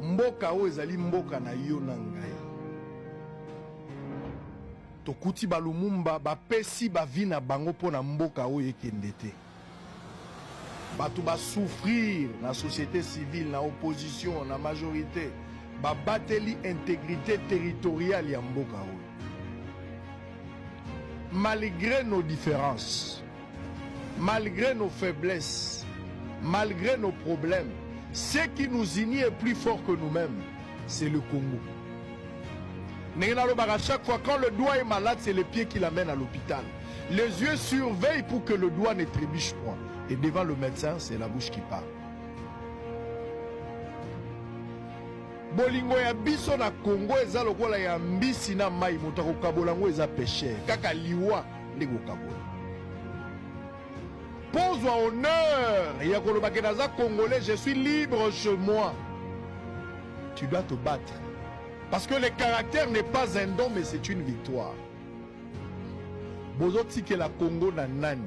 Mboka oyo ezali mboka na yo na ngai. Tokuti ba Lumumba bapesi bavi na bango mpo na mboka oyo ekende te. Bato basouffrir na société civile, na opposition, na majorité babateli integrité territoriale ya mboka oyo malgré nos différences Malgre nos faiblesses, malgre nos problèmes, ce qui nous unit est plus fort que nous-mêmes, c'est le Congo. Ndenge nalobaka chaque fois quand le doigt est malade, c'est le pied qui l'amène à l'hôpital. Les yeux surveillent pour que le doigt ne trébuche point. Et devant le médecin, c'est la bouche qui parle. bolingo ya biso na Congo eza lokola ya mbisi na mai moto akokabola yango eza peshe kaka liwa nde kokabola mpo ozwa honneur ya koloba ke naza congolais je suis libre chez moi tu dois te battre parce que le caractère n'est pas un don mais c'est une victoire bozotikela congo na nani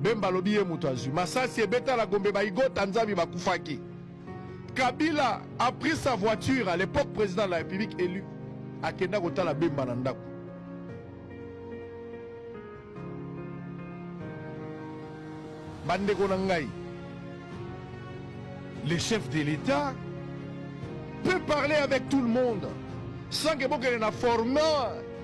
Bemba alobi ye moto azwi masasi ebeta na Gombe ba Igota Nzambi bakufaki. Kabila a pris sa voiture à l'époque président de la République élu akenda kotala Bemba na ndako. Bandeko na ngai, le chef de l'État peut parler avec tout le monde sans que bokele na format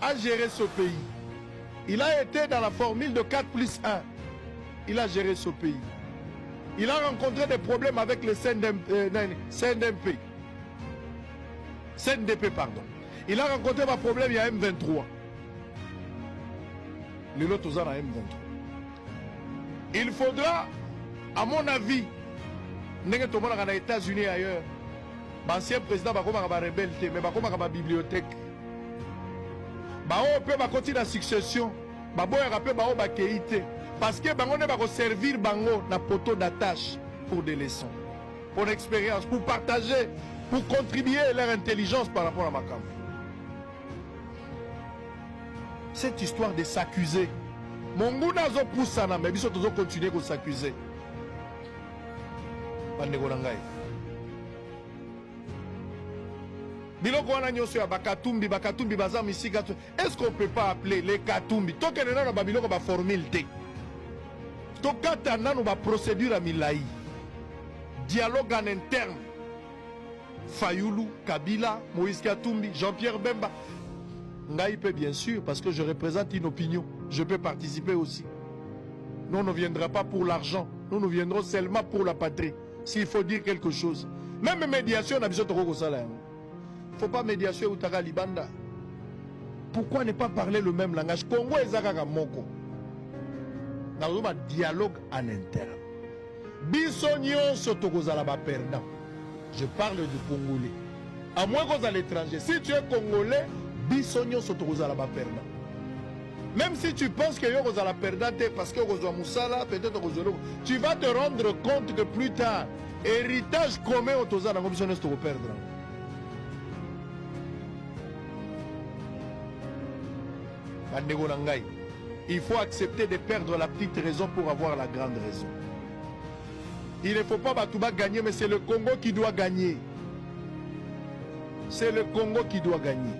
a gere ce pays il a ete dans la formule de 4 plus 1 il a gere ce pays il a rencontre des problèmes avec le CNDP, euh, CNDP. CNDP pardon il a rencontre ba problème ya M23 lelo toza na M23 il faudra à mon avis ndenge tomonaka na états-unis ailleurs baancien président bakomaka barebele te mais bakomaka babibliothèque baoyo mpe bakoti na succession baboyaka mpe baoyo bakei te parceke bango nde bakoservir bango na poteau d'attache pour des leçons pour l'expérience pour partager pour contribuer leur intelligence par rapport à makambo cette histoire de s'accuser monguna azopusana me biso tozokontinue kosacuse bandeko na ngai biloko wana nyonso ya bakatumbi bakatumbi baza misika to est ce qu'on peut pas appeler les katumbi tokende nano ba biloko ba formule te tokata nano ba procédure ya milai dialogue en interne fayulu kabila moïse katumbi jean pierre bemba ngai mpe bien sûr parce que je représente une opinion je peux participer aussi nous ne viendra pas pour l'argent nous nous viendrons seulement pour la patrie S'il faut dire quelque chose, même médiation na biso toko kosala yango. Faut pas médiation eutaka libanda. Pourquoi ne pas parler le même langage? Congo eza kaka moko. Na ba dialogue en interne. Biso nyonso tokozala ba perdant. Je parle du congolais. À moins kozala étranger. Si tu es congolais, biso nyonso tokozala ba perdant. Même si tu penses que yo kozala perdant te parce que okozwa musala peut-être okozwa eloko, tu vas te rendre compte que plus tard héritage commun oyo toza nango biso nyonso tokoperdre yango. Bandeko na ngai, il faut accepter de perdre la petite raison pour avoir la grande raison. Il ne faut pas bato ba gagner, mais c'est le Congo qui doit gagner. C'est le Congo qui doit gagner.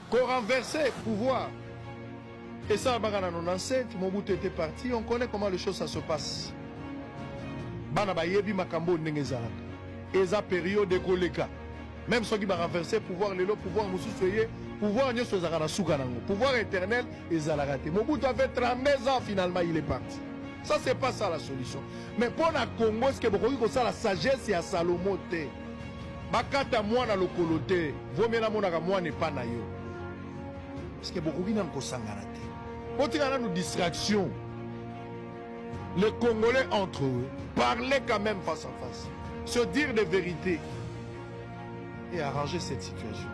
Ko renverser pouvoir et ça baka na 97 Mobutu était parti, on connaît comment les choses ça se passe. Bana bayebi makambo ndenge ezalaka. Eza période ekoleka. Même soki ba renverser pouvoir lelo pouvoir mosusu eye pouvoir nyoso ezalaka na suka nango. Pouvoir éternel ezalaka te. Mobutu avait 32 ans finalement il est parti. Ça c'est pas ça la solution. Mais pour la Congo, est-ce que vous pouvez la sagesse et à Salomon Bakata mwana lokolo te, vaut mieux namonaka mwana epa na yo. Parce que bokoki nanu kosangana te. Botika nanu distraction. Les Congolais entre eux, parlez quand même face à face. Se dire des vérités et arranger cette situation.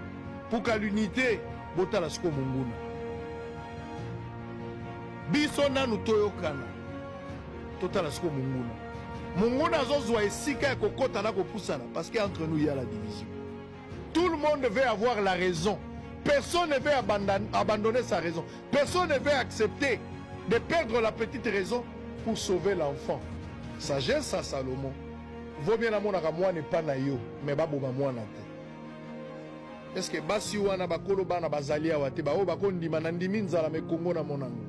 Pour qu'à l'unité, botala siko munguna. Biso nanu toyokana. totala sikoyo monguna monguna azozwa esika ya kokota na kopusana parce que entre nous ya la division tout le monde veut avoir la raison personne ne veut abandonner sa raison personne ne veut accepter de perdre la petite raison pour sauver l'enfant sagesse à salomon vaut bien namonaka mwana epa na yo mais baboma mwana te Est-ce que basi wana bakolo bana bazali awa te baoyo bakondima na ndimi nzala me Congo na mona ngo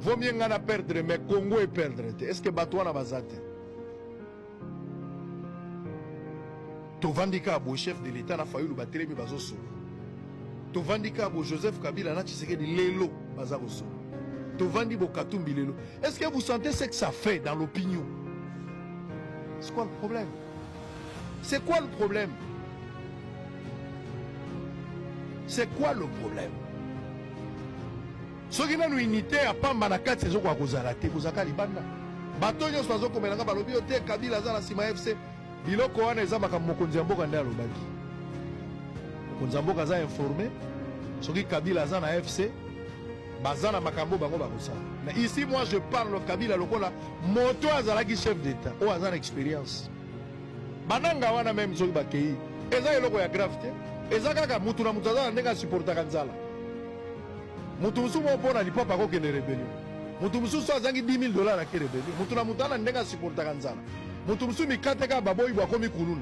vaut mieux nga na perdre me Congo e perdre te est-ce que bato wana baza te tovandi kaka bo chef de l'etat na Fayulu batelemi bazosolo tovandi kaka bo Joseph Kabila na Tshisekedi lelo baza kosolo tovandi bo Katumbi lelo est-ce que vous sentez ce que ça fait dans l'opinion c'est quoi le problème C'est quoi le problème C'est quoi le problème soki nanu unité ya pamba na kati ezokoka kozala te kozalaka libanda bato nyonso bazokomelanga balobi yo te kabila aza na nsima ya fc biloko wana eza makambo mokonzi ya mboka nde alobaki mokonzi ya mboka aza informe soki kabila aza na fc Baza na makambo bango bakosala. Mais ici moi je parle of Kabila lokola moto azalaki chef d'etat oyo aza na experience. Bananga wana meme soki bakei eza eloko ya grave te. Eza kaka mutu na mutu aza na ndenge asupportaka nzala. Mutu mosusu moko mpo na lipapa akokende rebellion. Mutu mosusu azangi 10 000 dollars ake rebellion. Mutu na mutu ana ndenge asupportaka nzala. Mutu mosusu mikate kaka baboyi bwakomi kuluna.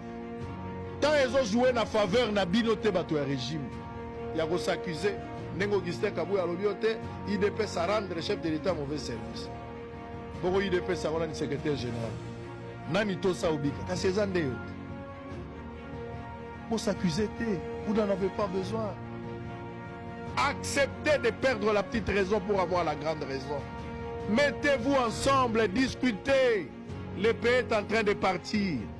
temps ezo joue na faveur na bino te bato ya regime ya ko s'accuser ndenge augustin kabuya alobi yo te idps a rendre chef de l'état mauvais service boko idps yango nani secrétaire général nani tosa obika kasi eza nde yo te ko s'accuser te vous n'en avez pas besoin acceptez de perdre la petite raison pour avoir la grande raison mettez-vous ensemble discutez le pays est en train de partir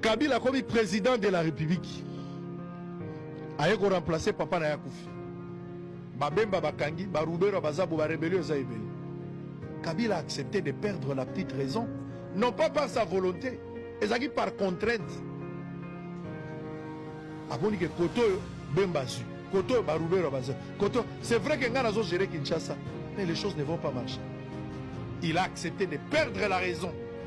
Kabila akomi president de la republique, aye ko remplacer papa na yakufi. Babemba bakangi, barubero bazabu, ba rebellion eza ebele. Kabila a accepté de perdre la petite raison, non pas par sa volonté, ezalaki par contrainte. Aboni ke koto oyo Bemba azwi, koto oyo barubero bazwi, koto. C'est vrai que ngai nazo gérer Kinshasa, mais les choses ne vont pas marcher. Il a accepté de perdre la raison.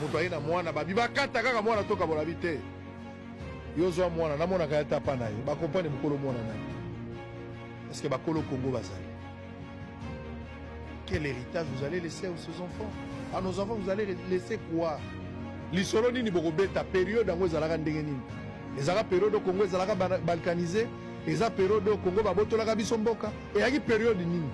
moto aye na mwana babi bakata kaka mwana toka bolabi te yo zwa mwana namonaka ya tapa na ye bakompane mokolo mwana na ye parceke bakolo kongo bazali quel héritage vous allez laisser à ces enfants à nos enfants vous allez laisser quoi lisolo nini bokobeta periode yango ezalaka ndenge nini ezalaka periode oyo kongo ezalaka balkanise eza periode oyo kongo babotolaka biso mboka eyaki periode nini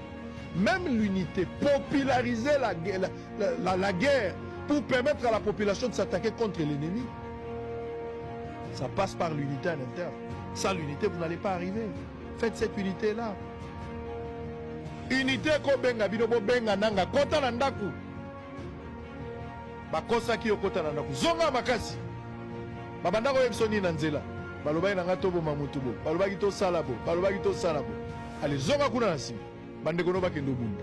même l'unité populariser la, la, la, la, la guerre pour permettre à la population de s'attaquer contre l'ennemi. Ça passe par l'unité à l'intérieur. Sans l'unité, vous n'allez pas arriver. Faites cette unité-là. Unité ko benga bino bo benga nanga kota na ndaku. Bakosaki yo kota na ndaku. Zonga makasi. Babanda ko yebisa nini na nzela. Balobaki nanga to boma mutu bo. Balobaki to sala bo. Balobaki to sala bo. Allez zonga kuna na sima. Bandeko no bakende obunda.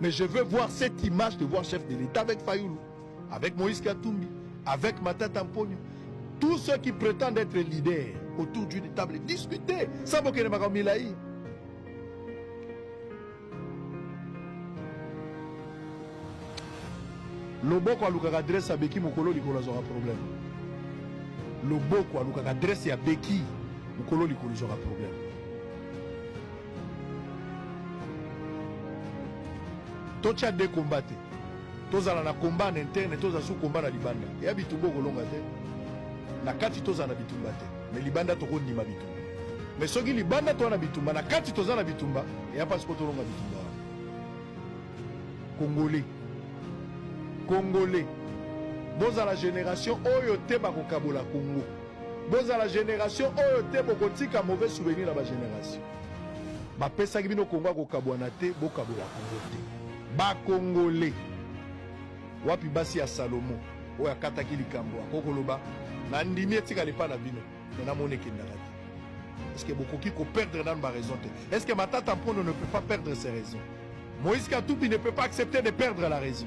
Mais je veux voir cette image de voir chef de l'État avec Fayoulou, avec Moïse Katumbi, avec Matata Mponyo. Tous ceux qui prétendent être leaders autour d'une table, discuter sans bokende makambo milai. loboko alukaka adresse ya beki mokolo likolo azwaka problème loboko alukaka adresse ya beki mokolo likolo ezwaka problème totya de komba te tozala na komba na interne tozala su komba na libanda eya bitumba okolonga te na kati tozala na bitumba te me libanda tokondima bitumba me soki libanda toza na bitumba na kati toza na bitumba eya mpasi mpo tolonga bitumba wana kongole kongole bozala generation oyo te bakokabola kongo Bozala generation oyo te bokotika mauvais souvenir na ba generation. Bapesaki bino Kongo ya kokabwana te, bokabola Kongo te. Ba Kongole wapi basi ya Salomo oyo akataki likambo akoki koloba na ndimi etikala epa na bino me namoni ekendaka te est-ce que bokoki koperdre nanu baraison te est-ce que matata mpondo ne peut pas perdre ses raisons moïse katubi ne peut pas accepter de perdre la raison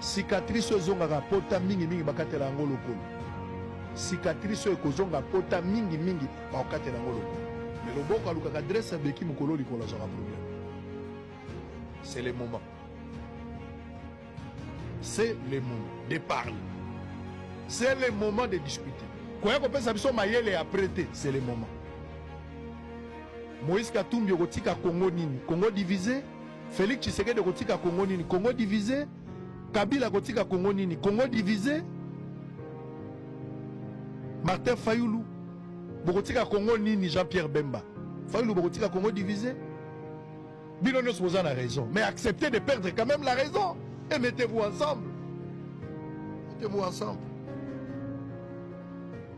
Cicatrice oyo ezongaka pota mingi mingi bakatela yango lokolo. Cicatrice oyo ekozonga pota mingi mingi bakokatela yango lokolo. Mais loboko alukaka adresse ya beki mokolo likolo azwaka problème. C'est le moment. C'est le moment de parler. C'est le moment de discuter. koya kopesa biso mayele ya près te c'est le moment moïse katumbi okotika congo nini congo divise Felix Tshisekedi kotika Congo nini? Congo divise. Kabila kotika Congo nini? Congo divise. Martin Fayulu bokotika Congo nini? Jean-Pierre Bemba Fayulu bokotika Congo divise. Bino nyonso boza na raison, mais acceptez de perdre quand même la raison et mettez-vous ensemble. Mettez-vous ensemble.